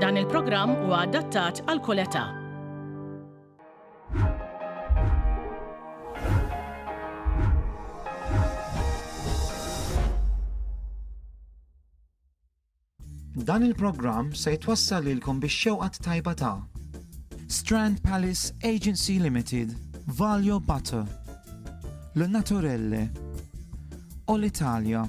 Dan il-programm huwa adattat għal kull età. Dan il-programm se jitwassal lilkom biex xewqat tajba ta' Strand Palace Agency Limited, Valio Butter, Le Naturelle, All Italia,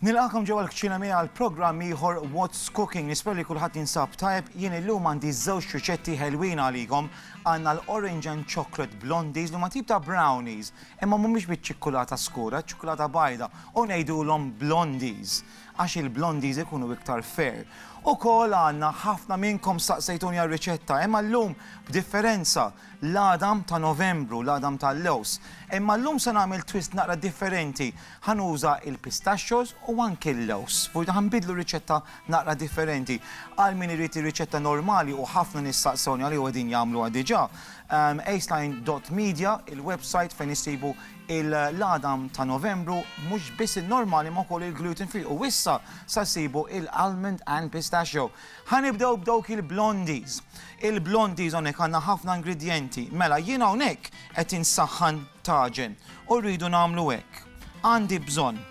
Nilqakom ġewwa l-kċina miegħi għal programm ieħor What's Cooking. Nispera li kulħadd jinsab tajb. Jien illum għandi żewġ riċetti ħelwin għalikom. Għandna l-Orange and Chocolate Blondies li ma tip ta' brownies, imma mhumiex biċ-ċikkulata skura, ċikkulata bajda, u ngħidulhom blondies għax il-blondies ikunu iktar fair. Ukoll għandna ħafna minnkom staqsejtuni għal riċetta, imma llum b'differenza l-għadam ta' Novembru, l-għadam tal-lewż. Imma llum se nagħmel twist naqra differenti, ħa nuża l-pistachios u anki l-lewż. F'wieħda ħa nbiddlu r-riċetta naqra differenti. Għal min irid ir-riċetta normali u ħafna nies saqsewni għaliha u qegħdin jagħmluha diġà, aceline dot media il-website fejn issibu l-għadam ta' Novembru, mhux biss in-normali imma wkoll il-gluten free u issa sa ssibu l-almond and pistachio. Ħa nibdew b'dawk il-blondies. Il-blondies hawnhekk għandna ħafna ingredjenti. Mela jien hawnhekk qed insaħħan taġen u rridu nagħmlu hekk. Għandi bżonn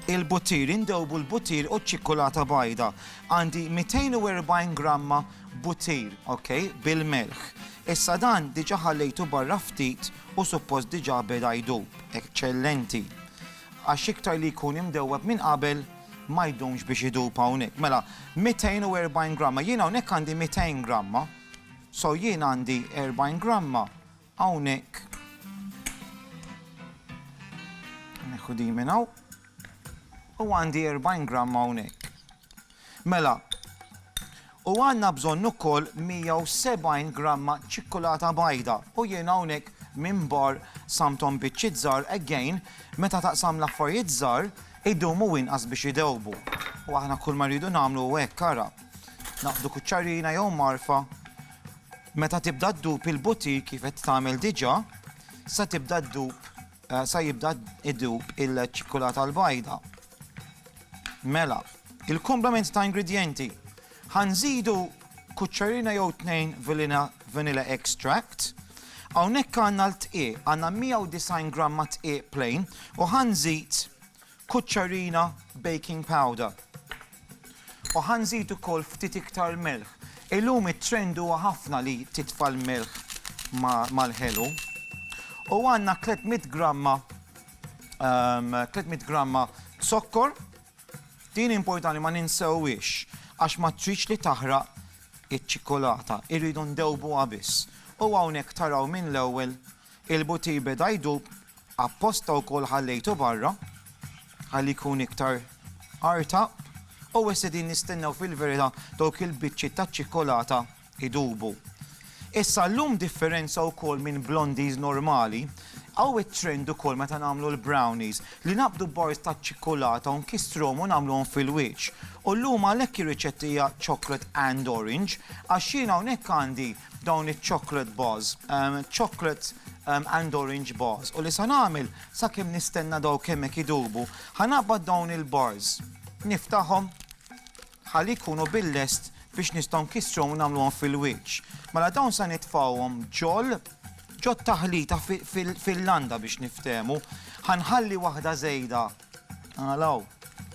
il-buttir, indewbu l-buttir u ċ-ċikkulata bajda. Għandi 240 gramma buttir, ok, bil-melħ. Issa dan diġa ħallejtu barra ftit u suppost diġa beda jdub. Eċċellenti. Għax iktar li jkun imdewweb minn qabel, Ma jdumx biex idub hawnhekk. Mela, 240 gramma. Jien hawnhekk għandi 200 gramma. So jien għandi 40 gramma hawnhekk. Neħu di minn hawn. U għandi 40 gramma hawnhekk. Mela, U għandna bżonn ukoll 170 gramma ċikkulata bajda u jien hawnhekk minn bar samthom biċċiet żgħar again meta taqsam l-affarijiet żgħar idumu inqas biex idewbu u aħna kull ma rridu nagħmlu hu hekk ara. Naqbdu kuċċarina jew mgħarfa meta tibda ddub il-butir kif qed tagħmel diġà sa tibda ddub sa jibda idub il-ċikkulata l-bajda. Mela, il-kumplament ta' ingredjenti. Ħa nżidu kuċċarina jew tnejn vilina vanilla extract. Hawnhekk għandna l-tqiegħ, għandna 190 gramma tqiegħ plain u ħa nżid kuċċarina baking powder. U ħa nżid ukoll ftit iktar melħ. Illum it-trend huwa ħafna li titfa' l-melħ mal-ħelu. U għandna 300 gramma 300 gramma zokkor. Din importanti ma ninsewwiex għax ma tridx li taħraq iċ-ċikkulata, irridu ndewbuha biss. U hawnhekk taraw minn l-ewwel il-butir beda jdub, apposta wkoll ħallejtu barra ħalli jkun iktar artaq u issa qegħdin nistennew fil-verità dawk il-biċċiet taċ-ċikkulata idubu. Issa llum differenza wkoll minn blondies normali, hawn it-trend ukoll meta nagħmlu l-brownies li naqbdu bars taċ-ċikkulata u nkistruhom u nagħmluhom fil-wiċċ. U llum għalhekk ir-riċetta hija chocolate and orange għax jien hawnhekk għandi dawn iċ-chocolate bars, chocolate and orange bars u li se nagħmel sakemm nistenna dawk hemmhekk idubu, ħa naqbad dawn il-bars, niftahom Ħalli jkunu bil-lest biex nistgħu nkissruhom u nagħmluhom fil-wiċċ. Mela dawn se nitfgħuhom ġol ġot-taħlita fil-landa biex niftehmu. Ħa nħalli waħda żejda għal hawn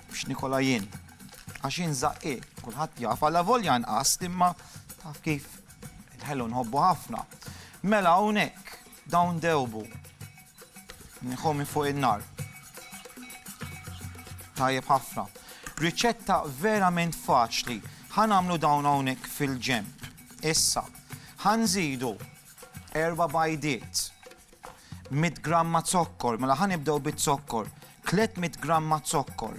biex nikolha jien. Għax jien żaqqieq, kulħadd jaf, alla volja nqas imma taf kif il-ħelu nħobbu ħafna. Mela hawnhekk dawn dewbu. Nieħu minn fuq in-nar. Tajjeb ħafna. Riċetta verament faċli. Ħa nagħmlu dawn hawnhekk fil-ġenb. Issa, ħa nżidu erba' bajdiet, 100 gramma zokkor, mela ħa nibdew bit-zokkor, 300 gramma zokkor.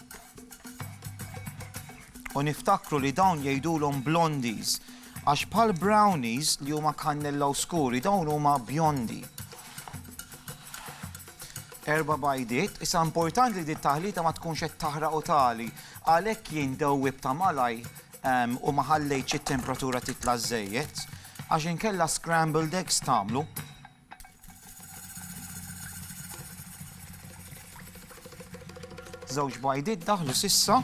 U niftakru li dawn jgħidulhom blondies għax bħal brownies li huma kannella u skuri dawn huma bjondi. Erba bajdiet, issa importanti li dit taħlita ma tkunx qed taħraq u tali, għalhekk jien dewwib ta' malaj ehm, u ma ħallejtx it-temperatura titla' żejjed, għax inkella scrambled eggs tagħmlu. Żewġ bajdiet daħlu sissa.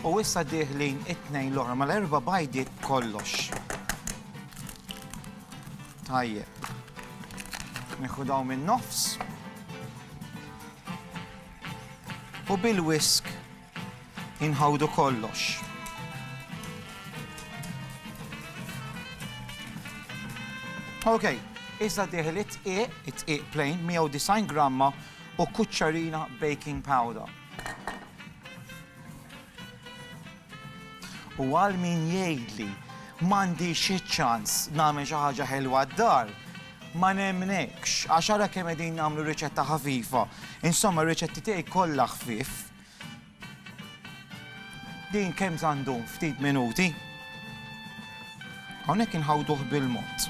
U issa diħlin it-tnejn l-oħra mal-erba bajdiet kollox. Tajjeb. Nieħu daw minn nofs. U bil-whisk inħawdu kollox. Ok, issa diħil it-tqiq, it-tqiq plain, 190 gramma u kuċċarina baking powder. U għal min jgħidli m'għandix iċ-ċans nagħmel xi ħaġa ħelwa d-dar, ma nemmnekx, għax ara kemm qegħdin nagħmlu riċetta ħafifa. Insomma, r-riċetti tiegħi kollha ħfief. Din kemm sa ndum, ftit minuti. Hawnhekk inħawduh bil-mod.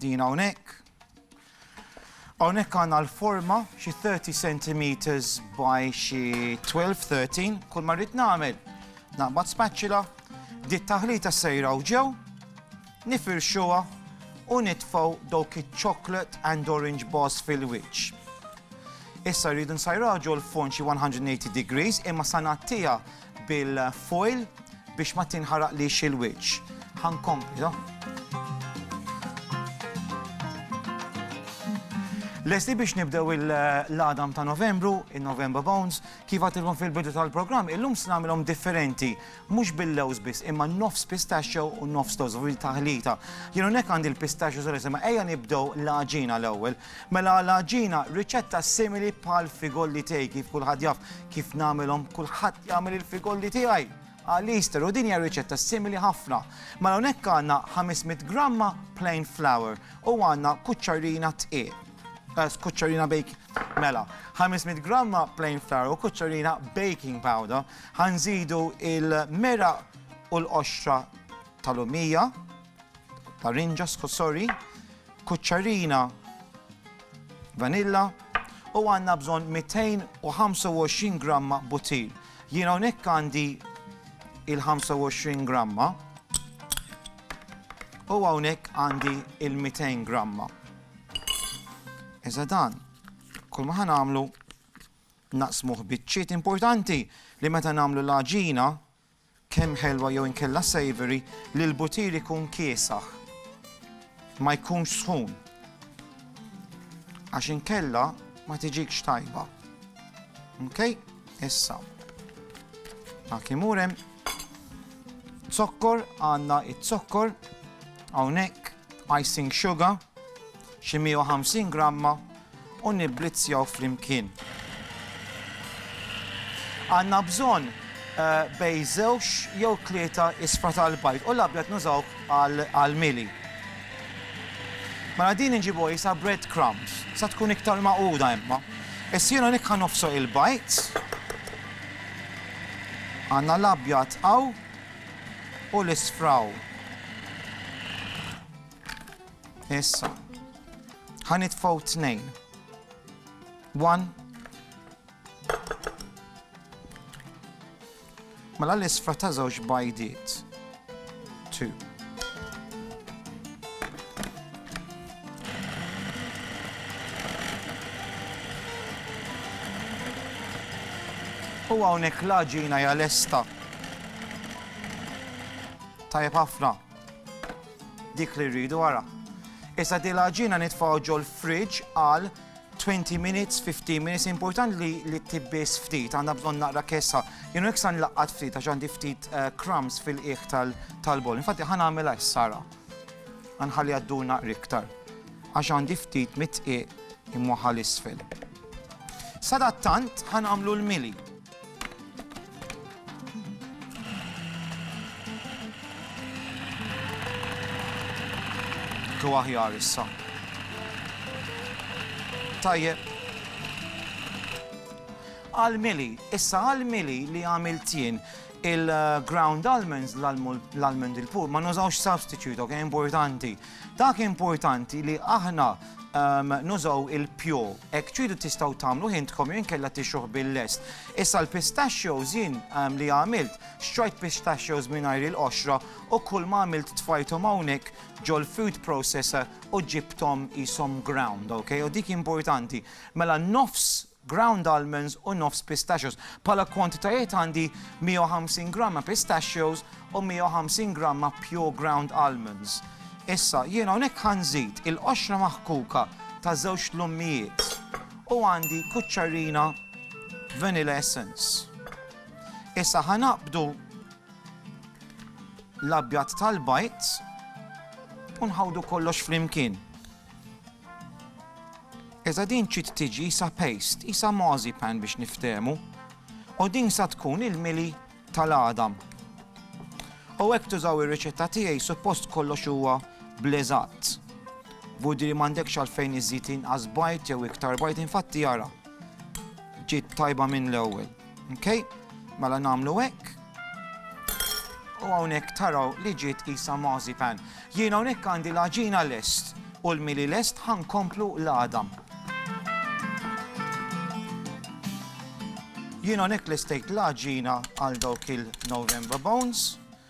Din hawnhekk. Hawnhekk għandna l-forma xi 30 centimeters by xi 12-13 kull ma rrid nagħmel naqbad spaċċila di taħlita sejra u ġew nifirxuha u nitfgħu dawk iċ-chocolate and orange bars fil-wiċċ. Issa rridu nsajraġu l-fond xi 180 degrees imma sa nagħtiha bil-foil biex ma tinħaraqlix il-wiċċ. Ħa nkompli. Lesti biex nibdew il-ladam ta' Novembru, il-November Bones, kif għatilkom fil-bidu tal-programm, illum se nagħmilhom differenti, mhux bil-lewż biss, imma nofs pistachio u nofs lewż, u taħlita. Jienu nek għandi l-pistachio żgħar, imma ejja nibdew l-għaġina l-ewwel. Mela għal għaġina, riċetta simili bħal figolli tiegħi kif kulħadd jaf kif nagħmilhom kulħadd jagħmel il-figolli tiegħi għal Easter u din hija riċetta simili ħafna. Mela hawnhekk għandna 500 gramma plain flour u għandna kuċċarina tqiel. Eh, skuċċarina baking. Mela, 500 gramma plain flour u kuċċarina baking powder. Ħanżidu il-mera u l-qoxra tal-lumija, larinġa, sorry, kuċċarina vanilla u għandna bżonn 225 gramma butir. Jien hawnhekk għandi il-25 gramma u hawnhekk għandi il-200 gramma. Iżda dan, kull ma ħanamlu naqsmuh biċċiet importanti li meta nagħmlu l-għaġina Kemm ħelwa jew inkella savoury li l-butir ikun kiesaħ. Ma jkunx sħun. Għax inkella ma tiġikx tajba. Ok? Issa. Dak imur hemm. Zokkor, għandna it-zokkor. Hawnhekk icing sugar xi 150 gramma u nibblizzjaw flimkien. Għandna bżonn bejn żewġ jew tlieta isfra tal-bajd u l-abjad nużawh għall-mili. Mela din inġibuha qisha bread crumbs, sa tkun iktar magħquda imma. Issa jien hawnhekk ħa nofsoq il-bajd. Għandna l-abjad hawn u l-isfra hawn. Issa, ħa nitfgħu tnejn. One. Mela l-isfra ta' żewġ bajdiet. Two. U hawnhekk l-għaġina hija lesta. Tajjeb ħafna. Dik li rridu ara. Issa di l-għaġina nitfgħu ġol fridge għal 20 minutes, 15 minutes, important li li tibbis ftit, għanna bżon naqra kessa. Jenu iksan laqqat ftit, għax għandi ftit eh, crumbs fil-qiegħ tal-bol. Infatti ħan għamela s-sara. Għanħalli għaddu naqra iktar. Għax għandi ftit mitqiq imwaħal isfel. Sadattant ħan għamlu l-mili. Ġo aħjar issa. Tajjeb. Għal-mili, issa għal-mili li għamilt jien il-ground almonds, l-almond il-pur, ma nużawx substitute, ok, importanti. Dak importanti li aħna ehm, nużaw il-pjo, ek tridu tistaw tamlu hintkom jew inkella tixuħ bil-lest. Issa l-pistachios jien ehm, li għamilt, xtrajt pistachios mingħajr il-qoxra u kull ma għamilt tfajthom hawnhekk ġol food processor u ġibtom jisom ground, ok? U dik importanti. Mela nofs ground almonds u nofs pistachios. Bħala kwantitajiet għandi 150 gramma pistachios u 150 gramma pure ground almonds. Issa, jien hawnhekk ħa nżid il-qoxra maħkuka ta' żewġ tlummijiet u għandi kuċċarina vanilla essence. Issa ħa naqbdu l-abjad tal-bajt u nħawdu kollox flimkien. Iżda din ċid tiġi isa paste, qisha marzipan biex niftehmu. U din sa tkun il-mili tal-għadam. U hekk tużaw ir-riċetta tiegħi suppost kollox huwa bl-eżatt. Budiri m'għandekx għalfejn iżżid inqas bajd jew iktar bajd infatti ara. Ġiet tajba minn l-ewwel. Ok, mela nagħmlu hekk. U hawnhekk taraw li ġiet isa mazipan. Jien hawnhekk għandi l-aġina lest u l-mili lest ħankomplu l-għadam. Jien hawnhekk lestejt l-aġina għal dawk il-November Bones.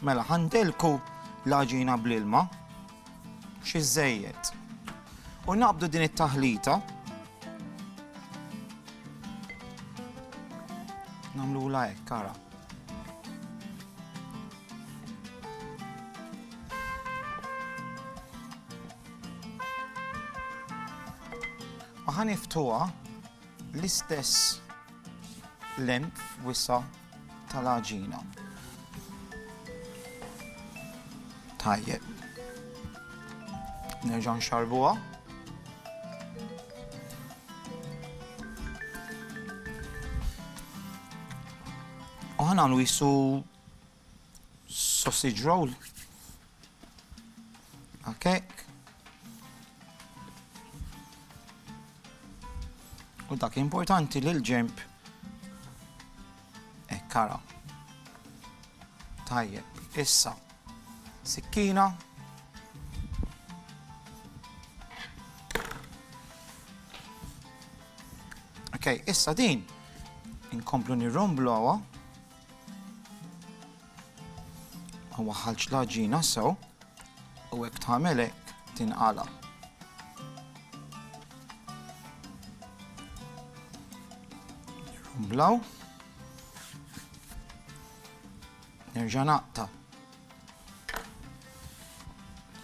Mela, ħandelku l-għaġina bl-ilma, xi żejjed. U naqbdu din it-taħlita. Namlu la hekk, kara. U ħaniftuha l-istess length wisa' tal-għaġina. Tajjeb. Nerġa' nxarbuha. U ħanagħmlu jisu sausage roll. Okay. U dak importanti li l-ġemp ekkara. Tajjeb, issa sikkina Ok, issa din inkomplu nirromblu għawa. Waħħalx l-għaġina sew u hekk tagħmel hekk tinqala'. Nirrumblaw. Nerġa' naqta'.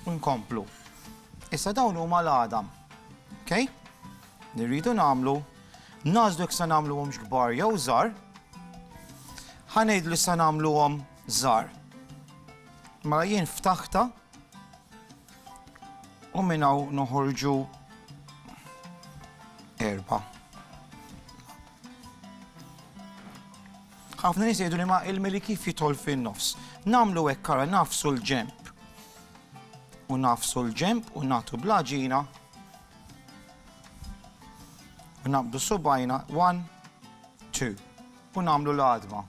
U nkomplu. Issa dawn huma l-għadam. Okay? Li rridu nagħmlu, nażlu jekk se nagħmluhomx kbar jew żgħar. Ħa ngħid li se nagħmluhom żgħar. Mela jien ftaħta u minn hawn noħorġu erba'. Ħafna nies jgħidu li ma il-mili kif jidħol fin-nofs. Nagħmlu hekk ara nafsu l-ġemp. U nafsu l-ġemp u nagħtu blaġina. U naqbdu subajna 1 2 u nagħmlu l-għadma.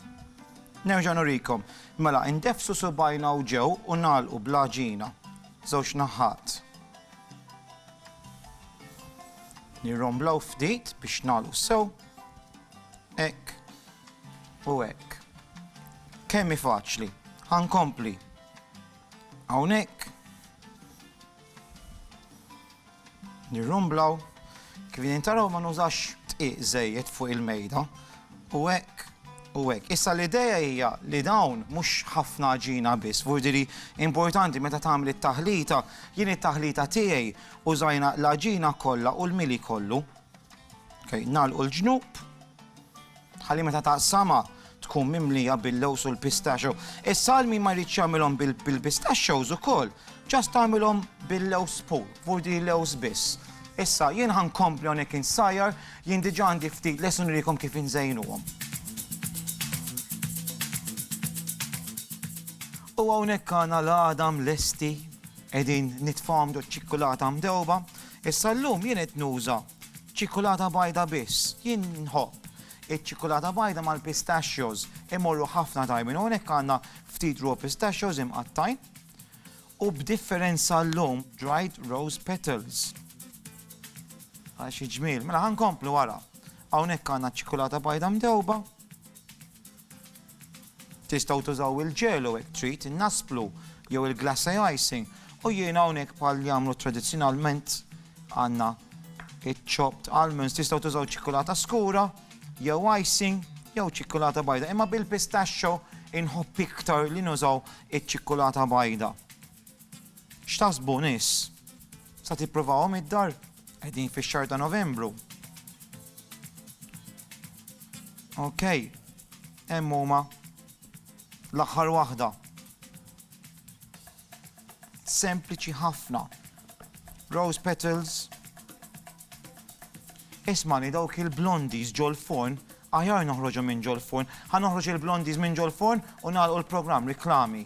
Nerġa' nurikom. Mela, indefsu subajna u ġew u nagħlqu blaġina. Żewġ naħat. Nirromblaw ftit biex nagħlqu sew. Hekk u hekk. Kemm hi faċli. Ħa nkompli. Hawnhekk nirrumblaw kif qegħdin taraw ma nużax tqiq żejjed fuq il-mejda u hekk u hekk. Issa l-idea hija li dawn mhux ħafna ġina biss, vurdiri importanti meta tagħmel it-taħlita, jien it-taħlita tiegħi użajna l-ġina kollha u l-mili kollu. Okay, nagħlqu l-ġnub ħalli meta taqsama tkun mimlija bil-lows u l-pistachio. Is-salmi ma jridx jagħmilhom bil-pistachios ukoll, ġast tagħmilhom bil-lows pool, vurdi lows biss. Issa jien ħankompli hawnhekk insajjar, jien diġà għandi ftit lesun rikom kif inżejnuhom. U hawnhekk għandna l-għadam lesti qegħdin nitfahom do ċikkulata mdewba, Issa llum jien qed nuża ċikkulata bajda biss. Jien nħobb iċ-ċikkulata bajda mal-pistachios, imorru ħafna tajbin. Hawnhekk għandna ftit raw pistachios imqattgħin u b'differenza llum dried rose petals. Ara xi ġmiel. Mela ħa nkomplu ara. Hawnhekk għandna ċ-ċikkulata bajda mdewba. Tistgħu tużaw il-ġelu hekk trid, in-nasplu jew il-glacé icing u jien hawnhekk bħal jagħmlu tradizzjonalment għandna iċ-chopped almonds. Tistgħu tużaw ċikkulata skura jew icing jew ċikkulata bajda, imma bil-pistachio inħobb iktar li nużaw iċ-ċikkulata bajda. X'taħsbu nies? Sa tippruvawhom id-dar? Qegħdin fix-xahar ta' Novembru. Ok, hemm huma l-aħħar waħda. Sempliċi ħafna. Rose petals. Ismani dawk il-blondies ġol forn, aħjar noħroġu minn ġol forn, ħa noħroġ il-blondies minn ġol forn u nagħlqu l-programm reklami.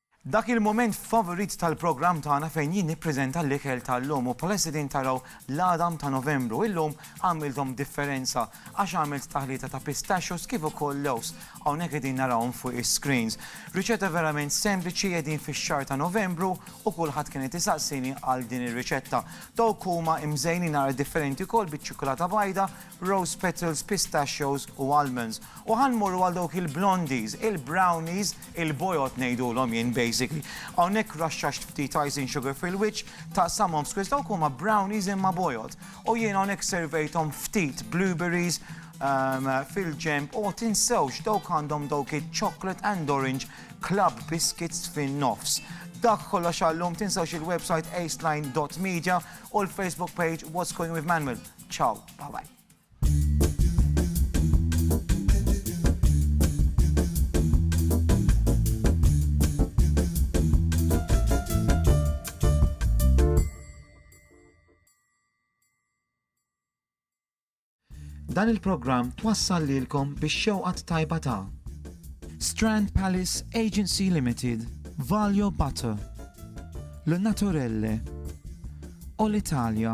Dak il-mument favorit tal-programm tagħna fejn jien nippreżenta l-ikel tal-lum u bħalissa qegħdin taraw l-għadam ta' Novembru. Illum għamilthom differenza għax għamilt taħlita ta' pistachios kif ukoll lewż. Hawnhekk qegħdin narawhom fuq is-screens. Riċetta verament sempliċi, qegħdin fix-xahar ta' Novembru u kulħadd kien qed isaqsini għal din ir-riċetta. Dawk huma imżejnin naqra differenti wkoll biċ-ċikkulata bajda, rose petals, pistachios u almonds. U ħa nmorru għal dawk il-blondies, il-brownies, Il-bojod ngħidulhom jien basically. Hawnhekk raxxaxt ftit icing sugar fil-wiċċ, taqsamhom f'squares, dawk huma brownies imma bojod. U jien hawnhekk servejthom ftit blueberries fil-ġenb, o tinsewx dawk għandhom dawk iċ-chocolate and orange club biscuits fin-nofs. Dak kollox għal-lum, tinsewx il-website aceline dot media u l-Facebook page What's Going With Manuel. Ciao, bye bye. Dan il-programm twassal lilkom bix-xewqa t-tajba ta' Strand Palace Agency Limited, Valio Butter, Le Naturelle, Olitalia,